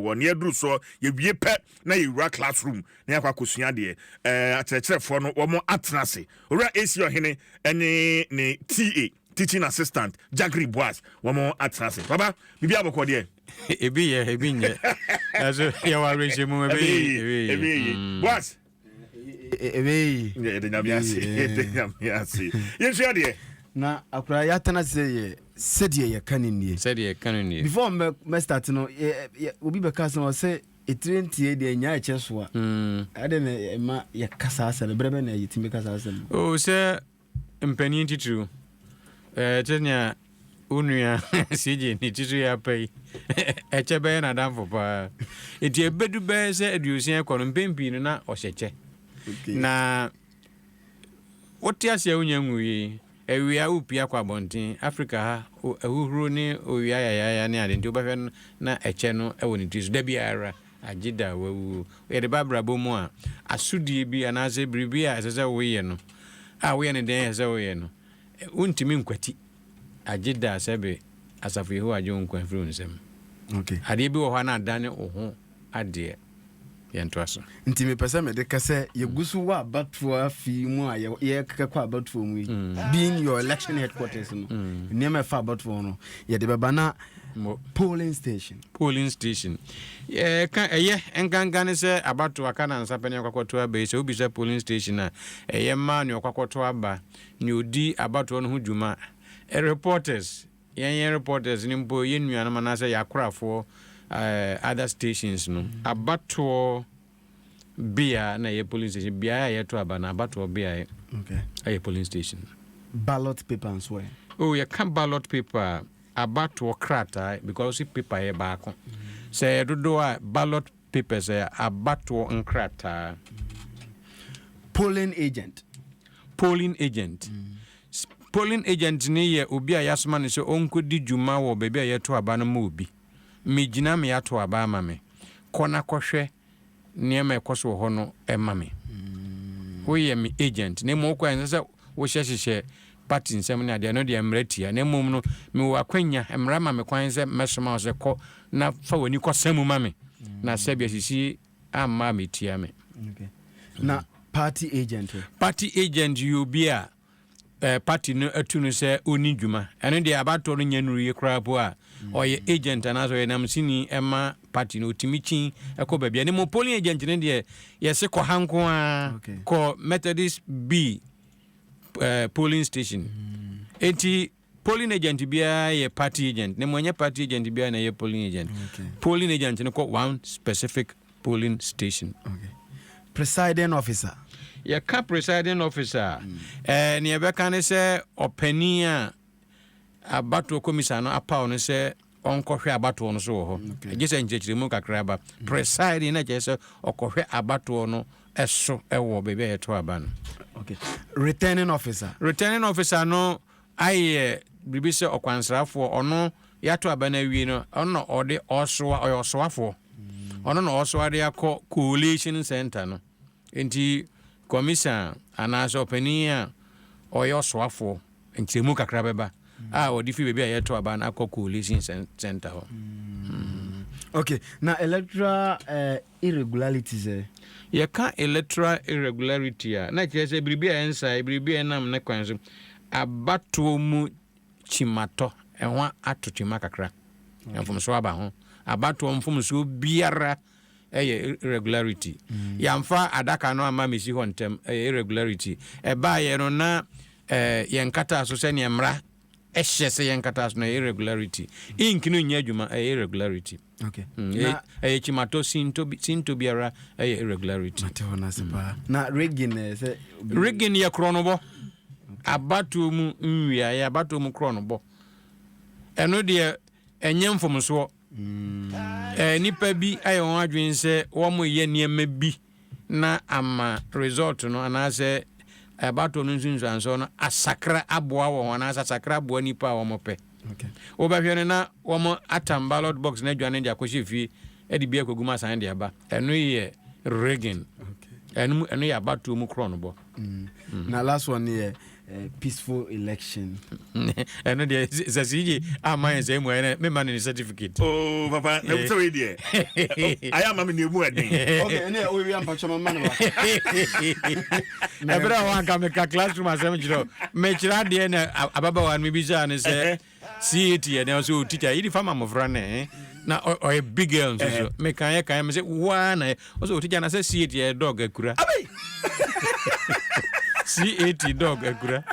Wɔ nea ɛduru soɔ, yɛwie pɛ na yɛwura class room na yɛakɔ akɔsua adeɛ. Ɛɛ akyerɛkyerɛfoɔ no wɔn atena ase. Owura AC Ɔhene ɛne ne TA, Teaching Assistant, Jagri Boaz wɔn atena ase. Papa, biribiara bɔkɔɔ deɛ? Ebi yɛ, ebi nyɛ. Nanso yɛwɔ awerɛhyɛmu, ɛbɛyɛ yie, ɛbɛyɛ yie. Boaz. yɛde nyame ase yɛde nyame ase yɛnsua deɛ na akora yɛatena sɛ yɛ sɛdeɛ yɛka no nie sɛdeɛ yɛka no nie before mɛstart no obi bɛka sɛ ɔsɛ ɛtire ntie deɛ nya ɛkyɛ so a ɛde na ɛma yɛka saa asɛm no berɛ bɛ na yɛtumi ka saa asɛm no sɛ Mpanin titiriw, ɛɛ te nea wo nua CJ ne titiriw yɛ apa yi, ɛkyɛ bɛyɛ n'adamfo paa. Eti ebedu bɛyɛ sɛ aduosia ɛkɔ no, mpɛn pii no na ɔhyɛ kyɛ. Na wote ase a wonya nwui, awia wopia kɔ abɔnten, Afrika ha ahuhuro ne owia yayaaya ne ade nti wobɛhwɛ no na ɛkyɛ no wɔ ne ti so da biara. Agyeda a wawu o. Yɛde ba abrabɔ mu a, asodie bi anaasɛ biribi a ɛsɛ sɛ woyɛ no, a woyɛ no dɛn a ɛsɛ sɛ woyɛ no, wontumi nkwati. Agyeda a sɛbe asafo Yehowa agye wo nkwa afiri wo nsam. Adeɛ bi wɔ hɔ a na adane wo ho adeɛ. Yɛntoa so. Nti mepɛ sɛ mede ka sɛ, yɛgu so wɔ abatoɔ afe yi mu a yɛkekɔ abatoɔ mu yi, being your election headquarters no, nneɛma a ɛfa abatoɔ ho no, yɛde bɛba na Mo. Polling station. Polling station. Yɛka ɛyɛ nkanka ne sɛ abato aka na nsa pɛ ne ɔkɔ akɔto aba yi. Sɛ wobisa polling station a, ɛyɛ mmaa ne ɔkɔ akɔto aba, ne odi abatoɔ no ho dwuma. Reporters, yɛn yɛn reporters no mpo, yɛn nuanom anaasɛ yɛn akorafoɔ, eh, other stations no, abatoɔ bea na ɛyɛ polling station. Beaeɛ a yɛto aba no, abatoɔ beaeɛ Okay. ɛyɛ polling station. Ballot paper nso ɛ? Oh, yɛka ballot paper a, abatoɔ krataa because wosi paper yɛ baako sɛ ɛyɛ dodoɔ a ballot papers ɛyɛ abatoɔ nkrataa polling agent polling agent polling agent ni yɛ obi a yasoma no sɛ ɔnkɔdi dwuma wɔ baabi a yɛto aba no ma obi megyina me ato aba ama me kɔ na kɔhwɛ nneɛma a ɛkɔ so wɔ hɔ no ma me. Woyɛ me agent, na mmom wokɔ a ɛnsɛ sɛ wohyɛ hyehyɛ party nsɛm ne adeɛ, ɛno deɛ mmara tia. Na mmom no, mewɔ akwanya, mmara ma me kwan sɛ mɛsoma wo sɛ kɔ na fa w'ani kɔsa mu ma me, na sɛbi asisi amma a metia me. Na party agent? Party agent yɛ obi a eh, party no atu no sɛ ɔni dwuma ɛno deɛ abatoɔ no nyɛ nuru yi koraa po a ɔyɛ agent anaasɛ ɔyɛ namsini ɛma party no ɔtumi kyi ɛkɔ baabi ɛne mo polling agent no deɛ yɛse kɔ ha nko a kɔ methodist b eh, polling station ɛnti Polling agent biara yɛ party agent na mmom ɛnyɛ party agent biara na ɛyɛ polling agent. Polling agent no kɔ one specific polling station. Okay. Presiding officer. Yɛka presiding officer a, mm. eh, nea ɛbɛka ne sɛ ɔpanin a abatoɔ komisa no apaw no sɛ ɔnkɔhwɛ abatoɔ no so wɔ hɔ ɛgye sɛ nkyerɛkyerɛmu kakra ba mm. presiding na kyerɛ sɛ ɔkɔhwɛ abatoɔ no ɛso ɛwɔ baabi a yɛto aba no okay. returning officer returning officer no ayɛ biribi sɛ ɔkwansrafoɔ, ɔno yɛato aba no awie no, ɔno na ɔde ɔsoa, ɔyɛ ɔsoafoɔ, ɔno na ɔsoa de akɔ collation centre no. Nti kɔmisa anaasɛ ɔpanin a ɔyɛ ɔsoafoɔ, nkyerɛmu kakra bɛba a ɔde firi baabi a yɛto aba no akɔ collation centre hɔ. Mm. Okay, na electoral uh, Irregularities ɛ? Yɛka electoral irregularity a, na ɛkyerɛ sɛ biribi a ɛnsae, biribi a ɛnam ne kwan so. Abatoɔ mu kyimatɔ, ɛho ato kyima kakra, mfomsoɔ aba ho. Abatoɔ mfomsoɔ biara yɛ irregularity. Yɛamfa adaka no amma mmɛsi hɔ ntɛm, ɛyɛ irregularity. Ɛbaeɛ no, na yɛnkataa so sɛdeɛ mmara Ɛhyɛ sɛ yɛ nkataso no ɛyɛ irregularity. Ink no nyɛ adwuma ɛyɛ irregularity. Okay. Mm, na, ɛyɛ kyimatɔ sinto bi sinto biara ɛyɛ irregularity. Mate hɔ n'ase paa. Mm. Na rigging ɛyɛ sɛ. Rigging yɛ korɔnobɔ. Abatoɔ mu nwiaeɛ abatoɔ mu korɔnobɔ. Ɛno deɛ ɛnyɛ mfomsoɔ. Ɛɛ, nnipa bi ayɛ wɔn adwene sɛ wɔreyɛ nneɛma bi na ama result no anaasɛ abatoɔ no nsunsuansoɔ no asakra aboa wɔn anaasɛ asakra aboa nnipa a wɔpɛ. Wobɛhwɛ no na wɔatam ballot box no adwane de akɔhyɛ fie de bi akɔgu mu asan de aba. Ɛno yɛ rigging. Ɛno yɛ abatoɔ mu korɔnobɔ. Mm. Mm. Now last one here, uh, peaceful election. ɛno deɛ sɛ sɛ ama yɛ sɛ mu ɛnɛ mema no ne certificate oh papa na wosɛ wei deɛ ayɛ ama me ne ɛmu ɛden ɛnɛ ɔwia mpakyɛ mama no ɛberɛ a wanka meka classroom asɛm kyerɛ mekyerɛ adeɛ na ababawa no mebisaa no sɛ CAT yɛ dɛn ɔsɛ o teacher yɛ difa ma mmɔfra no ɛɛ na ɔyɛ big girl nso so me kan yɛ kan me sɛ wo ara na yɛ ɔsɛ o teacher na sɛ CAT yɛ dog akura CAT dog akura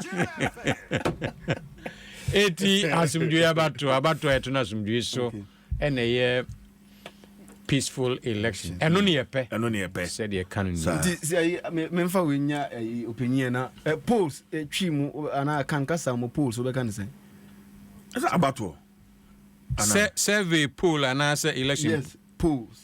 eti asomdwoe abato abato a ɛto no asomdwoe so. Okay. ɛna ɛyɛ peaceful election ɛno ne yɛpɛ ɛno ne yɛpɛ sɛdeɛ ɛka no nyinaa nti sɛ ayi memfa wei nya ayi ɔpanyin na polls twi mu anaa kankasa mu polls wobɛka ne sɛ ɛsɛ abatoɔ sɛ survey poll anaasɛ election yes polls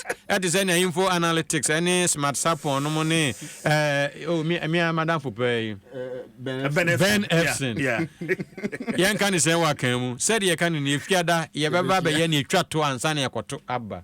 Ɛte sɛ nea Info Analytics ne Smartsappon nom ne eh, oh, me, me ara madamfo paa yi, Ben Epson. Yɛnka ne sɛn wɔ akan mu. Sɛdeɛ yɛka no no, efiada yɛbɛba abɛyɛ nea etwa to ansa na yɛakɔto aba.